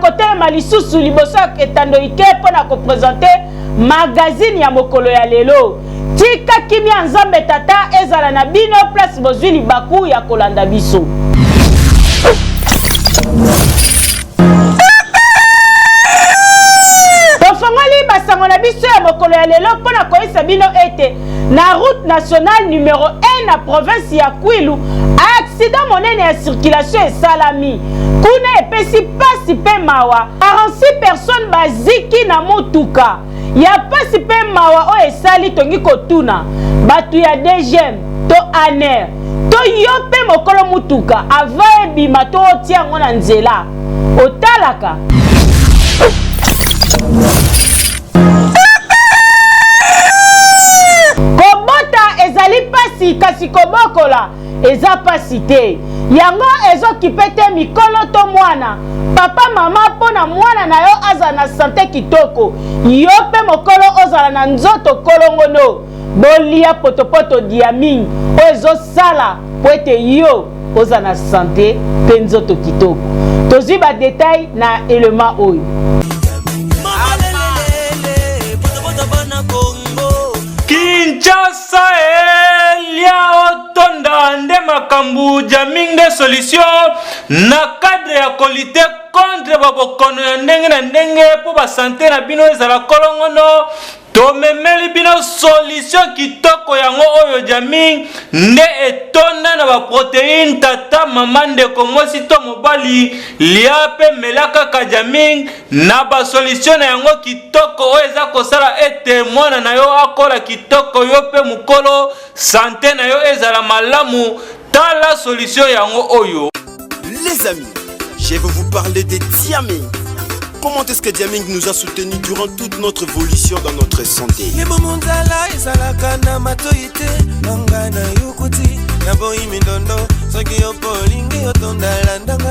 kotelema lisusu liboso ya etando ike mpo na kopresente magazini ya mokolo ya lelo Tika kimia ya Nzambe Tata ezala na bino place bozui libaku ya kolanda biso. mokolo ya lelo mpo na koyebisa bino ete na route nationale numero 1 na province ya kwilu aksida monene ya circulation esalami kuna epesi mpasi mpe mawa 46 personnes baziki na motuka ya pasi mpe mawa oyo esali tongi kotuna bato ya dgm to aner to yo mpe mokolo motuka ava ebima to otia yango na nzela otalaka kobota ezali pasi kasi kobokola eza pasi te yango ezokipe te mikolo to mwana papa mama mpo na mwana na yo azala na sante kitoko yo mpe mokolo ozala na nzoto kolongono bolia potopoto diaming oyo ezosala mpo ete yo ozala na sante mpe nzoto kitoko tozwi badetail na elema oyo Sa elia otonda nde makambu jamming nde solution na cadre ya kolite contre ba bokono ya ndenge na ndenge mpo ba sante na bino ezala kolongono tomemeli bino solution kitoko yango oyo jamming nde etonda na baproteine tata mama ndeko mwasi to mobali lia mpe mela kaka jamming Na ba solutions na yango kitoko oyo eza kosala ete mwana na yo akola kitoko yo mpe mokolo sante na yo ezala malamu, tala solution yango oyo. Les amis, je veux vous parler de Diaming. Comment est-ce que Diaming nous a soutenu durant toute notre évolution dans notre santé Libumu nzala ezalaka na matoi te nanga na yokuti na boyi mindondo soki yo mpo olingi otondala ndanga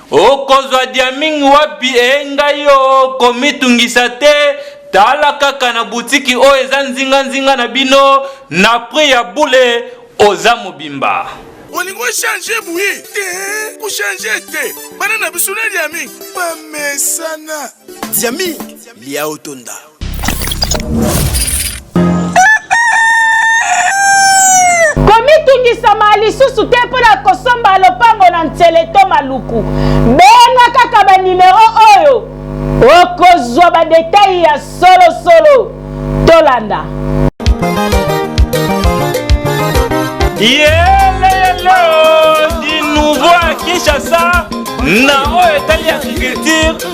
Okozwa diaming wapi ee ngai oo komitungisa te tala kaka na butiki oyo eza nzinga nzinga na bino na prix ya bule oza mobimba. olingi ochange bwi te kochange te bana na biso na liaming bamesana liaming lia otonda komitungisama lisusu te mpo na kosomba lopango na nsele to maluku benga kaka banimero oyo okozwa badetai ya solosolo tolanda yeleyelo di nouveau ya kinshasa na oyo etali agriculture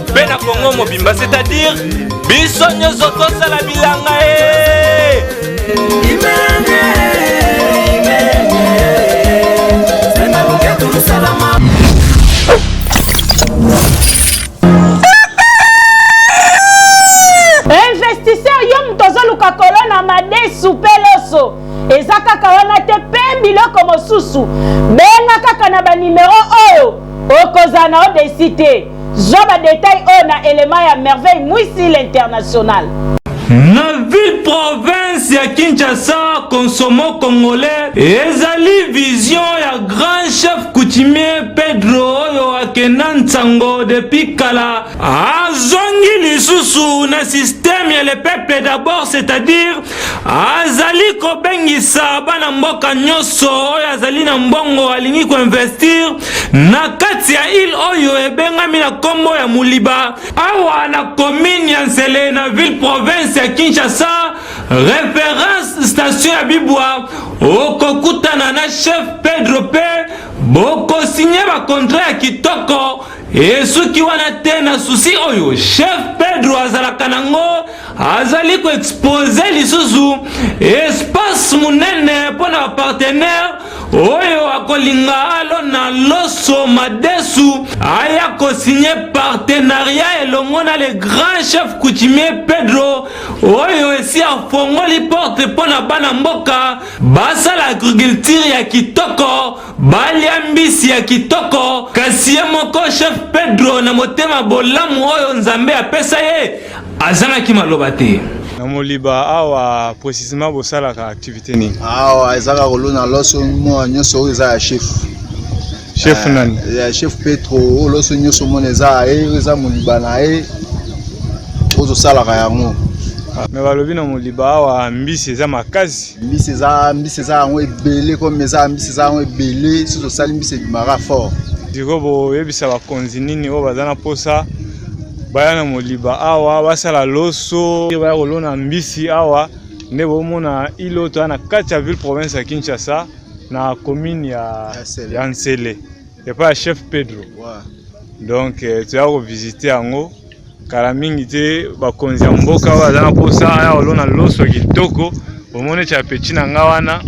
mpe na kongo mobimba c'est-à-dire biso nyonso tosala bilanga e investisseur yo moto ozoluka kolona madesu mpe loso eza kaka wana te mpe biloko mosusu benga kaka na banimero oyo okozala na odesi te Zwa ba details oyo na element ya Merveille Mwisi l'international. Na ville province ya Kinshasa, Consomo Congolais ezali vision ya grand chef coutumier Pedro oyo akenda nsango depuis kala azongi lisusu na système ya le peuple d'abord c'est-à-dire azali kobengisa bana mboka nyonso oyo azali na mbongo alingi koinvestir na kati ya ile oyo ebengami na nkombo ya moliba awa na komine ya nsele na ville province ya kinshasa reference station ya bibwa okokutana na chef pedro pe bokosinye bakontra ya kitoko Esuki wana te na susi oyo chef Pedro azalaka nango, azali ko exposer lisusu espace munene mpo na ba partenaires oyo akolinga alona loso madesu aya ko signer partenariat elongo na le grand chef coutumier Pedro oyo esi afongoli porte mpo na bana mboka basala agriculture ya kitoko. Balia mbisi ya kitoko, kasi ye moko Chef Pedro, na motema bolamu oyo Nzambe apesa ye, azangaki maloba te. Na Moliba awa precisement bosalaka activité nini? Awa ezaka kolona loso mwa nyonso oyo eza ya chef. Chef eh, nani? Ya chef Petro oyo loso nyonso mona eza ye, eza Moliba na ye ozosalaka yango. Ah, me balobi na Moliba awa mbisi eza makasi. mbisi eza mbisi eza yango ebele comme eza mbisi eza yango ebele soki tosali mbisi ebimaka fort sikoyo boyebisa bakonzi nini oyo baza na mposa baya na moliba awa basala loso baya kolona mbisi awa nde bomona ilo toya na kati ya ville province ya kinshasa na commune ya, ya nsele epai ya chef pedro wow. donc eh, toya kovisite yango kala mingi te bakonzi ya mboka oyo aza na mposa ya kolona loso kitoko omoni ete apeti na nga wana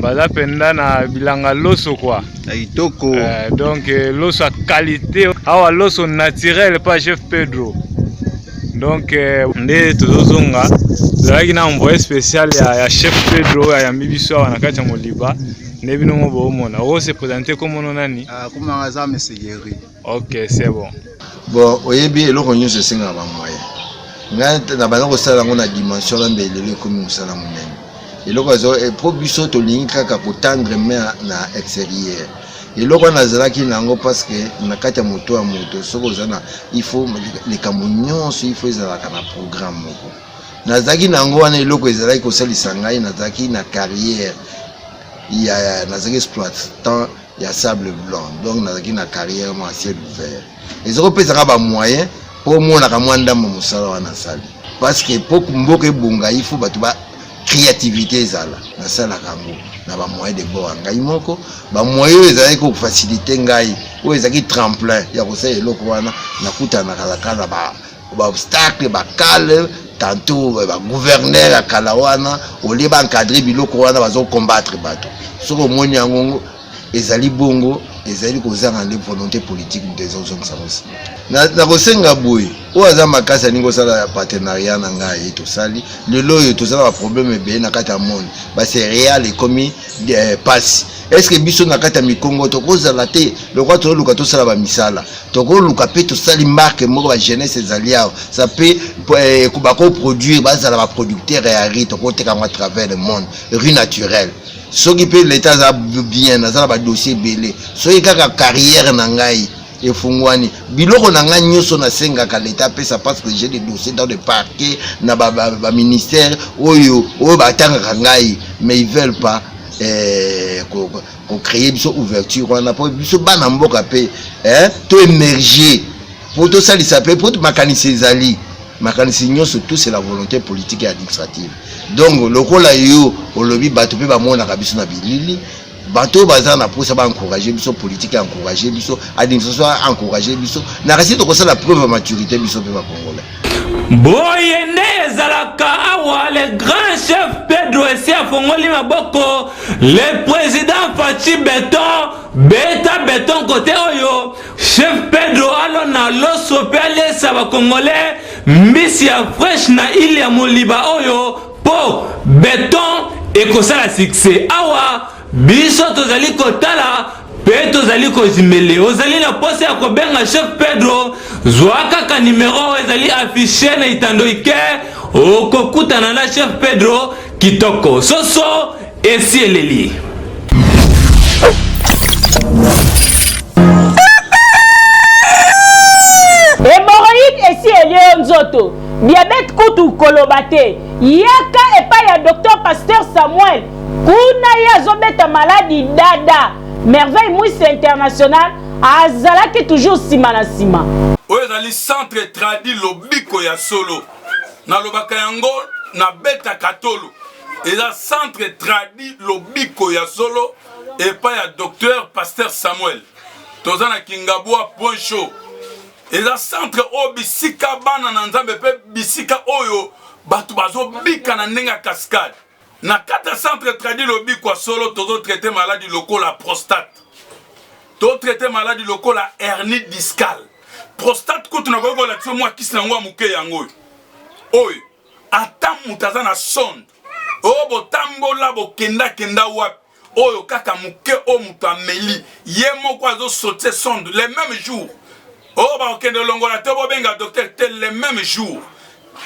baza mpenza na bilanga loso kwa ya kitoko eh, donc eh, loso ya qualité awa loso naturel pa chef pedro donc eh, nde tozozonga tozalaki na envoye spécial ya, ya chef pedro oyo ayambi biso awa na kati ya moliba nde bino ngo boomona ose présente komono nani ah, komanga eza mesegeri Ok, c'est bon. Bon, oyebi eloko nyonso esengaka ba moyen. Ngai nabanda kosala yango na dimension na mbeli lelo ekomi mosala monene. Eloko azo eh, po biso tolingi kaka kotandre main na exterieur. Eloko wana nazalaki na yango parce que na kati ya moto ya moto soki oza na il faut likambo nyonso il faut ezalaka na programme moko. Nazalaki na yango wana eloko ezalaki kosalisa ngai nazalaki na carrière ya nazalaki exploitant ya sable blanc donc nazalaki na carrière mwa ciel ouvert ezokopesaka bamoyen mpo omonaka mwa ndambo mosala wana asali parce que mpo mboka ebonga ifo bato ba créativité ezala nasalaka yango na bamoyen de bord ya ngai moko bamoyen oyo ezalaki kofasilite ngai oyo ezalaki tremplin ya kosala eloko wana nakutanaka laka na ba ba obstacle ba cale tanto ba gouverneur ya kala wana olie ba encadre biloko wana bazo combattre bato soki omoni yango ezali bongo ezali kozanga nde volonté politique moto ezozongisa ngo nsima nakosenga boye oyo aza makasi alingi kosala ya partenariat na ngai tosali lelo oyo tozala baproblème ebele na kati ya monde bacereale ekomi eh, pasi estce biso na kati ya mikongo tokozala te lokola tozoluka tosala bamisala tokoluka mpe tosali marke moko ba jeunesse ezali awa sa mpe eh, bakoproduire bazala baproducteur ya ri tokoteka yango à travers le monde ri naturel soki mpe leta aza bien aza na badossier ebele soki kaka carrière na ngai efungwani biloko na ngai nyonso nasengaka leta apesa parce que j'ai des dossiers dans le parquet na baministère ba, ba oyo oyo batangaka ngai mais ils veulent pas eh, ko créer biso ouverture wana po biso bana mboka pe eh to émerger po to salisa pe po makanisi ezali makanisi nyonso tout c'est la volonté politique et administrative donc lokola yo olobi bato pe bamonaka biso na bilili bato oyo baza na mposa baencourage biso politike encourage biso administration encourage biso na kasi tokosala preuve ya maturité biso mpe bakongolais boye nde ezalaka awa le grand chef pedro esi afongoli maboko le président faci beton beta beton kote oyo chef pedro alona loso mpe aliesa bakongole mbisi ya fresh na ile ya moliba oyo mpo beton ekosala succès awa Biso tozali kotala pe tozali kozimele. Ozali na posa ya kobenga Chef Pedro? Zwa kaka nimero oyo ezali affiche na itando ike, okokutana na Chef Pedro kitoko. Soso esi eleli. nzoto diabete kutu koloba te yaka epai ya docteur pasteur samuel Kuna ye azobeta maladi dada. Merveille Mwisi International azalaki toujours sima na sima. Oyo ezali centre tradi lobiko ya solo nalobaka yango na beta katolo eza centre tradi lobiko ya solo epai ya docteur pasteur samuel toza na kingabwa point show eza centre oyo bisika bana na nzambe mpe bisika oyo bato bazobika na ndenge ya cascade na kati ya centre tradi lobikwa solo tozo traite maladi lokola prostate to traite maladi lokola hernie discale prostate kutu nakoki kolakisa yo mwa kisi na yango ya moke yango oyo oyo ata moto aza na sonde o oh, botambola bokendakenda wapi oyo kaka moke oyo moto ameli ye moko azosotie sonde le meme jour oyo oh, bakokende olongola to bobenga docteur te le meme jour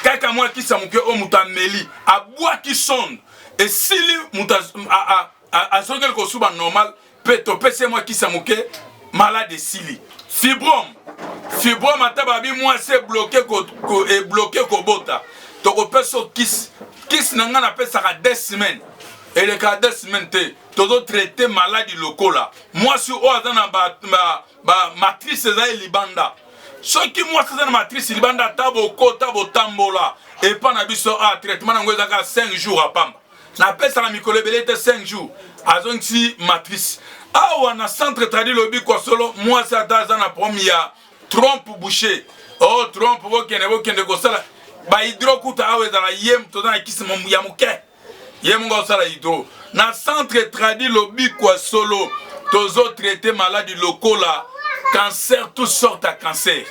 kaka mwa kisa moke oyo moto ameli abwaki sonde esili moto azongeli kosuba normal mpe topesi ye mwa kisa moke malade esili fibrome fibrome ata babi mwasi ebloke ebloke kobota tokopesa kisi kisi na ngai napesaka 2 semaine eleka deux semaine te tozo traite maladi lokola mwasi oyo aza na bamatrice eza ye libanda soki mwasi aza na matrice libanda ata bokota botambola epa na biso a ah, traitement na yango ezaka 5 jours apamba napesaka mikolo ebele te 5 jours azongisi matrice awa na centre tradi lobi kwa solo mwasi ata aza na problème ya trompe boucher o oh, trompe bokende bokende kosala bahydro kuta awa ezala ye toza na kisi ya moke ye moko osala hydro na centre tradi lobikwa solo tozo traite maladi lokola cancer tout sorte ya cancer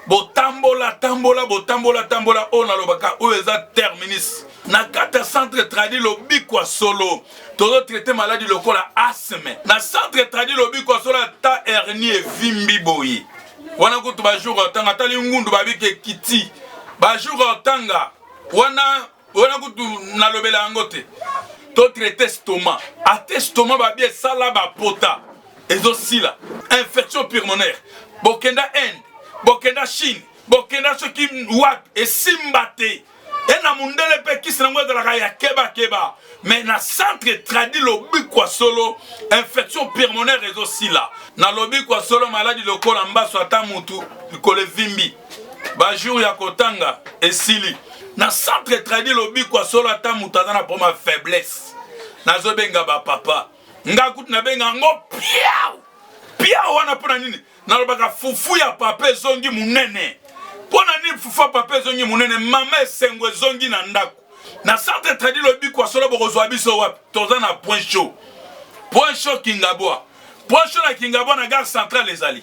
botambola tambola botambola tambola oyo nalobaka oyo eza terminus na kati ya centre tradi lobikwa solo tozo traite maladi lokola asme na centre tradi lobikwa solo ata hernie evimbi boye wana kutu bajour otanga atali ngundu babike kiti bajour otanga wana wana kutu nalobela yango te to traite stoma ate stoma babi esala bapota ezosila infection pulmonaire bokenda inde bokenda chine bokenda soki wapi esimba te e na mundele mpe kisi nango ezalaka ya kebakeba me na centre tradi lobi kwa solo infection pulmonaire ezosila na lobi kwa solo maladi lokola mbaso ata mutu likolo evimbi ba jour ya kotanga esili na centre tradi lobiko ya solo ata moto aza na problème ya faiblesse nazobenga bapapa nga kutu nabenga yango piau piau wana mpo na nini nalobaka fufu ya papa ezongi monene mpo na nini fufu ya papa ezongi monene mama esengo ezongi na ndako na centre tradi lobiko ya solo bokozwa biso wapi toza na point chaud point chaud kingabwa point chaud na kingabwa na gare centrale ezali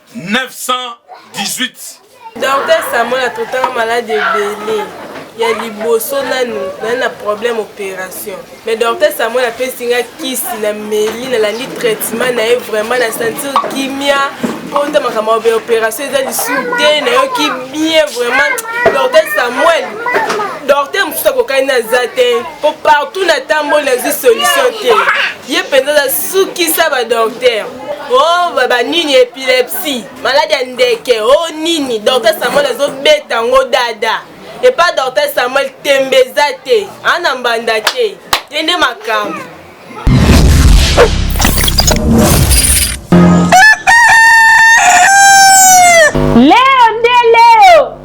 918 Docteur Samuel atotaka malade ebele ya liboso nanu naye na problème opération mais docteur Samuel apesi nga kisi na meli nalandi traitement na ye vraiment na sentir kimia mpo nta makambo ya opération eza lisusu te nayoki bien vraiment docteur Samuel docteur mosusu akokani naza te mpo partout natamboli nazwi solution te ye mpenza aza sukisa badocteur Oh, baba nini epilepsie maladi ya ndeke o oh, nini docteur samuel azobeta yango dada epa docteur samuel tembe eza te ana mbanda te ye nde makambo leo nde leo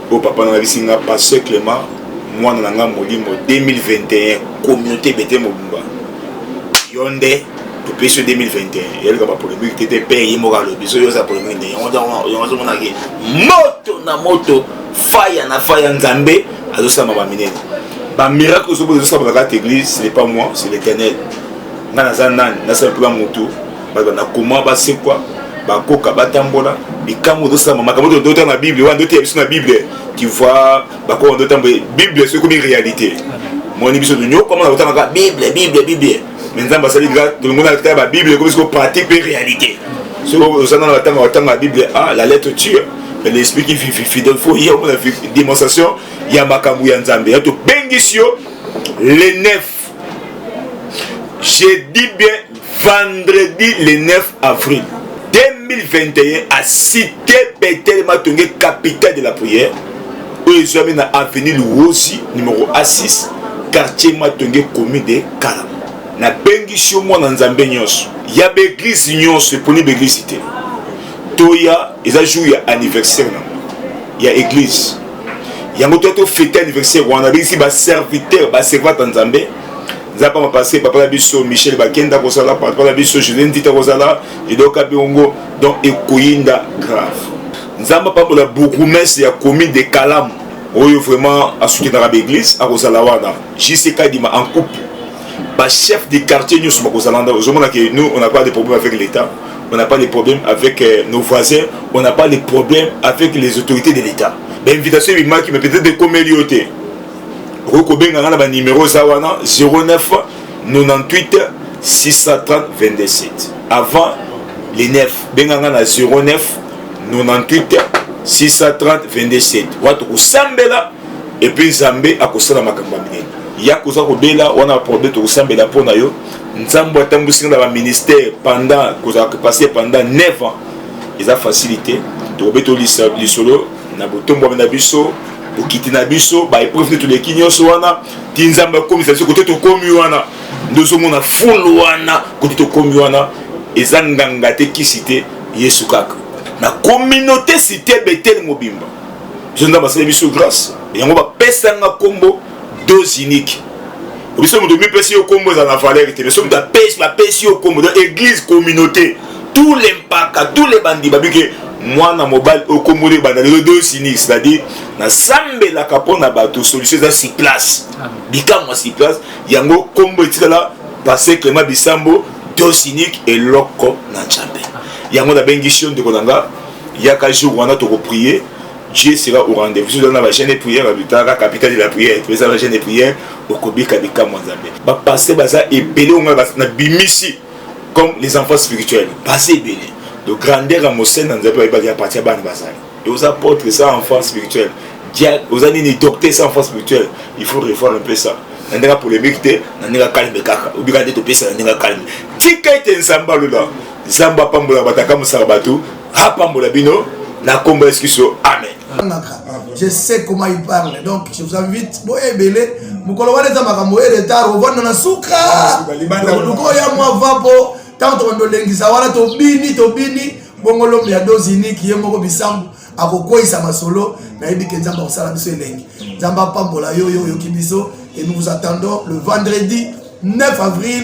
Bo papa na bisi nga pasteur Clement mwana na nga molimo 2021 communauté bete mobimba yonde topesi yo 2021 yaleka ba polemique te te pe ye moko alobi so yoza polemique nde yango yango azomonaki moto na moto faya na faya nzambe azosalama ba minene ba miracle ozobo ezosalama kaka te église ce n'est pas moi c'est l'éternel nga naza nani nasala mpona motu bato na koma basekwa bakoka batambola likambo ozosalama makambo oyo ndotanga na bible wana ndoteya biso na bible tu vois bakoka ndotambo bible soki ekomi réalité moni biso tonyokama na kotangaka bible bible bible me nzambe asali nga tolongona kotala babible ekomi siko pratique mpe réalité soki ozana na batanga batanga ya bible a ah, la lettre tire mais l'esprit qui vit fidèle faut ye omona démonstration ya makambo ya nzambe ya tobengisi yo le 9 je dis bien vendredi le 9 avril 2021 à cité betele matonge capitale de la prière oyo ezwami na avenue luwozi numero a6 quartier matonge commune de kalama nabengisi yo mwana nzambe nyonso ya baeglize nyonso eponi baeglize te toya eza jour ya anniversaire na ya eglize yango to to fete anniversaire wana abengisi ba serviteur ba servante ya nzambe nzambe pamba pase papa na biso michel bakenda kozala papa na biso julien ndita kozala edoka biongo donc ekoyinda grave nzambe apambola bourgoumestre ya commune de kalamu oyo vraiment asukinaka baeglise akozala wana jc kadima en couple bachef de quartier nyonso bakozala nda ozomona ke nous on a pas de problème avec l'état on n'a pas de problème avec euh, nos voisins, on n'a pas de problème avec les autorités de l'État. L'invitation est mais peut-être de comélioter. Rokobenga na ba numéro ça wana 09 98 630 27. Avant les 9, benga na 09 98 630 27. Watu kusambela et puis Zambé akosala makambo minene. Ya koza kobela wana problème tokosambela mpo na yo nzambo atambwisi nga na baministère pendant kozala kopase pendant 9 ans eza facilité tokobeta lisolo na botombwami na biso bokiti na biso baepreuve nde toleki nyonso wana ti nzambe akomisa biso kote tokomi wana nde ozomona fulu wana kote tokomi wana eza nganga te kisi te yesu kaka na communauté site betele mobimba biso nzambe asali biso grâce yango bapesanga nkombo dose unique biso moto mipesi yo kombo ezala na valeur te mais soki moto apesi bapesi yo kombo donc église communauté tous les mpaka tous les bandi babike mwana mobali oyo kombo nde ebanda lelo dose unique c'est-à-dire nasambelaka mpo na bato solution eza sur place bikamwa sur place yango kombo etikala passe clément bisambo dose unique eloko na nzambe yango nabengisi yo ndeko na nga yaka jour wana tokoprie Dieu sera au rendez-vous dans la chaîne de prière à Lutaka, capitale de la prière, et la chaîne de prière, au Kobika Bikamwa Nzambe. Ba passé baza ebele on a na bimisi comme les enfants spirituels. Passé ebele. De grandeur à Mosène Nzambe ba ibaki partir à bande bazali. Et aux apôtres ça enfants spirituels. Dia aux années ni docteur ça enfants spirituels. Il faut revoir un peu ça. na ndenge polémique te na ndenge calme kaka obika nde topesa na ndenge calme tika ete nzambe alola nzambe apambola bato akamusaka bato apambola bino na nkombo ya yesu kristo amen je sais comment il parle donc je vous invite boye ebele mokolo wana eza makambo ye retard ovanda na suka luka oya mwa va mpo ntango tobanda olengisa wana tobini tobini bongo lombe ya dozi iniki ye moko bisambu akokweyisa masolo nayebi ke nzambe akosala biso elengi nzambe apambola yo yo oyoki biso et nous vous attendons le vendredi 9 avril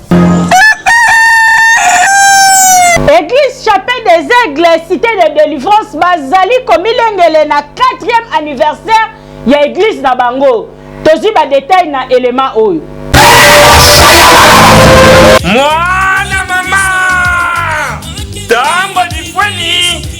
Église Chapelle des Aigles, Cité de Délivrance, bazali komilengele na 4e anniversaire ya église na bango. Tozwi ba détails na élément oyo. Mwana mama, tango lifweni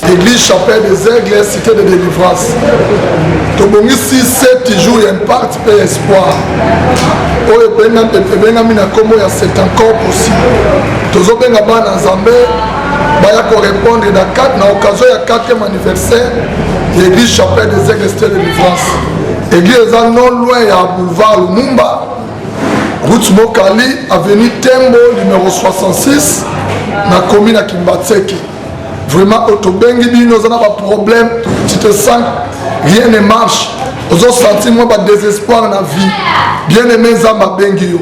Église Chapelle des Aigles, Cité de Délivrance. tobongisi 7 jours ya impact mpe ya espoir oyo ebengami na nkombo ya c'est encore possible tozobenga bana nzambe baya korépondre na 4 na occasion ya 4e anniversaire ya église chapelle des aigles stade de livrance église eza non loin ya boulevard lumumba route mokali avenue tembo numero 66 na komi na kimbatseki Vraiment otobengi bino oza na ba problème tu te sens rien ne marche ozo sentir mwa ba désespoir na vie bien aimé nzambe abengi yo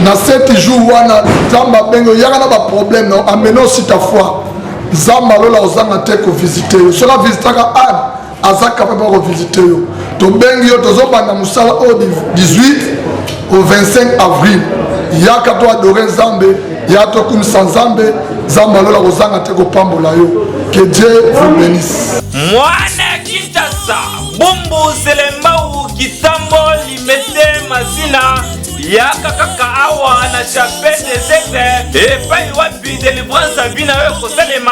na seti jour wana nzambe abengi yo yaka na ba problème na amena aussi ta foi nzambe alola ozanga te kovisite yo soki avisitaka ane aza capable ako visiter yo tobengi yo tozobanda mosala oyo 18 au 25 avril yaka to adore nzambe ya tokumisa nzambe nzambe alola kozanga te kopambola yo que dieu vous bénisse mwana kitasa bumbu selembau kitambo limete mazina yaka kaka awa na chapelle des epe epai wapi delivrance abi na yo ekosalema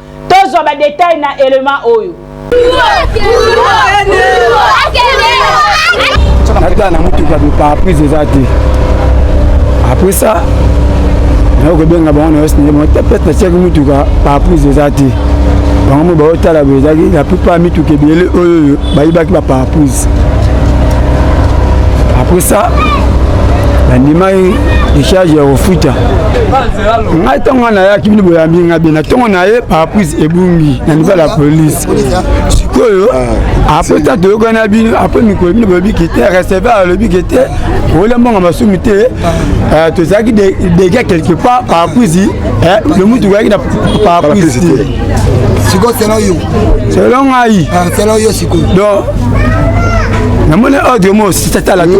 Tozwa ba details na element oyo. Nata na motuka bi parapluie eza te. Après ça, nayo kobenga bango na osnie mo te pete tiaki motuka parapluie eza te. Bango mo baotala boye ezalaki la plupart mituka ebele oyo oyo bayibaki ba parapluie. Après ça, nandimaki decharge ya kofuta ngai ntango ngai nayaki bino boyambi ngai bena ntongo na ye parapluise ebungi na niveau ya la police sikoyo ah, apres ta toyokani na bino apres mikolo bino bolobi ke te receveur alobi ke te olia mbongo masumu te ah. eh, tozalaki degat quelque part parapluise eh, le mutu koyaki na parapluise te sikoyo selon yo selon ngai ah, selon yo sikoyo donc namoni ordre mo sitatala te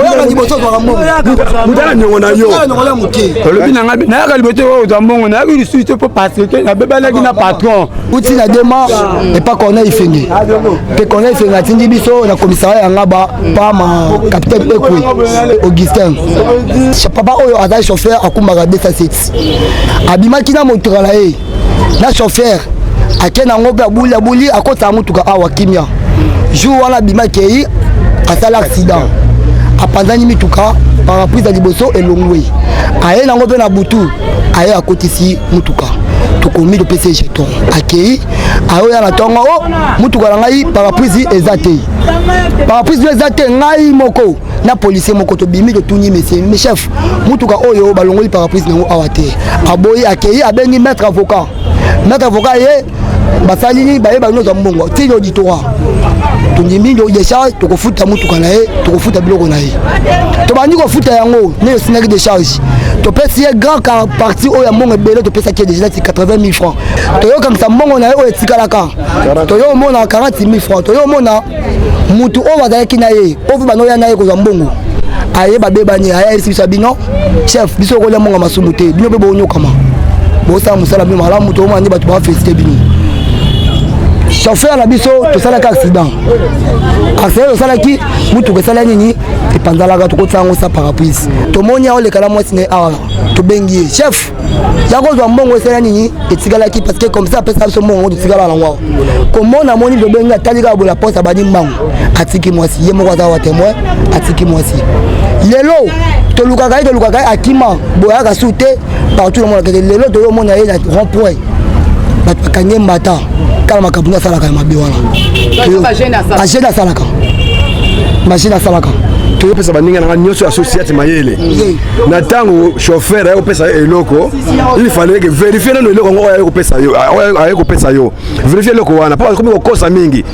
oyaka liboso ozwaka mbongoutala niongo na yo olobi na ngai nayaka liboso oyo ozwa mbongo nayaki lisusu te mpo parceke nabebanaki na patron uti na dema epa corneille ifenge mpe corneille ifenge atindi biso na komisara ya ngaba pa ma capitaine ekwe augustin papa oyo azali chauffeur akumbaka 207 abimaki na motoka na ye na chauffeur ake nango mpe abuli abuli akotaka motuka awa kimia jour wana abimaki eyi asala accident apanzani mituka paraprise ya liboso elongwe aye nango mpe na butu aye akotisi motuka tokomi topesi jeton akei ayoya na ntongo o oh, motuka na ngai paraprise eza te paraprise no eza te ngai moko na policier moko tobimi totuni mesie mais chef motuka oyo balongoli paraprise nango awa te aboyi akei abengi maître avocat maître avocat ye basali nini baye bali nozwa mbongo ti auditoire tondimi decharge tokofuta motuka na ye tokofuta biloko na ye tobandi kofuta yango nde tosindaki decharge topesi ye grand car parti oyo ya mbongo ebele topesaki ye deja nati 80 000 francs toyokangisa mbongo na ye oyo etikalaka toyo omona 40 000 francs toyo omona mutu oyo bazalaki na ye oyo mpe banoya na ye kozwa mbongo aye babebani aya elisi biso ya bino chef biso okolya mbongo ya masumu te bino mpe bonyokama bosala mosala bino malamu tokomona nde bato bafelisite bino chauffeur na biso tosalaki accident accident tosalaki motuka esala nini epanzalaka tokotisango sa parapluise tomoni aoleka na mwasi na ye awa tobengi ye chef ya kozwa mbongo esala nini etikalaki parce que comme ça apesa biso mbongo totikala nango awa komona moni lobengi atali kaka bola posa abandi mbango atiki mwasi ye moko aza wa témoin atiki mwasi lelo tolukaka ye tolukaka ye akima boyaka su te partout namonaka te lelo toyomona ye na rond point bato bakangi ye mbata kala makambo nde asalaka ya mabe wana agene asalaka magene asalaka toyopesa baninga na nga nyonso ya societe mayele na ntango chauffeur aye kopesa yo eloko il fallait que verifie nano eloko yango oyo aye kopesa yo aye kopesa yo verifie eloko wana mpo akomi kokosa mingi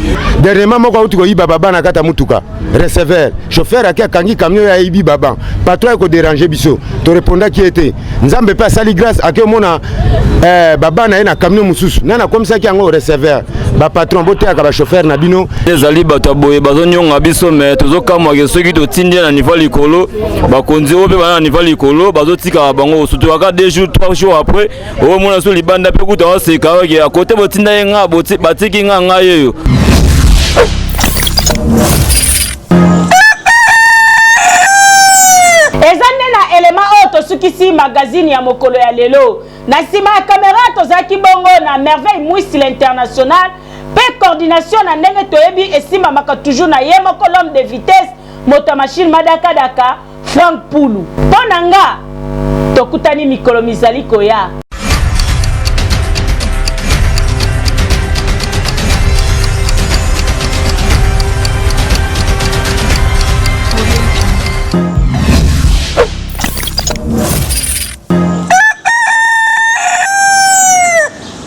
dernièrement moko auti koyiba baba na kati ya motuka receveur chauffeur ake akangi camion ya ayibi baba patron aye koderange biso torepondaki ye te nzambe mpe asali grâce ake omona eh, baba na ye na camion mosusu nani akomisaki yango receveur bapatron boteyaka bachauffeur na bino ezali bato ya boye bazonyonga biso me tozokamwake soki totindi ye na niveau likolo bakonzi oyo mpe bana na niva likolo bazotikaka bango sutukaka deux jours trois jours après okomona so libanda mpe kuta waseka oke akote botinda ye nga batiki nga ngai yeyo eza nde na elema oyo tosukisi magazini ya mokolo ya lelo na nsima ya kamera tozalaki bongo na merveille mwisi l'international mpe coordination na ndenge toyebi esimbamaka toujours na ye moko l'homme de vitesse moto ya mashine madakadaka Frank Pulu. Mpo na nga, tokutani mikolo mizali koya.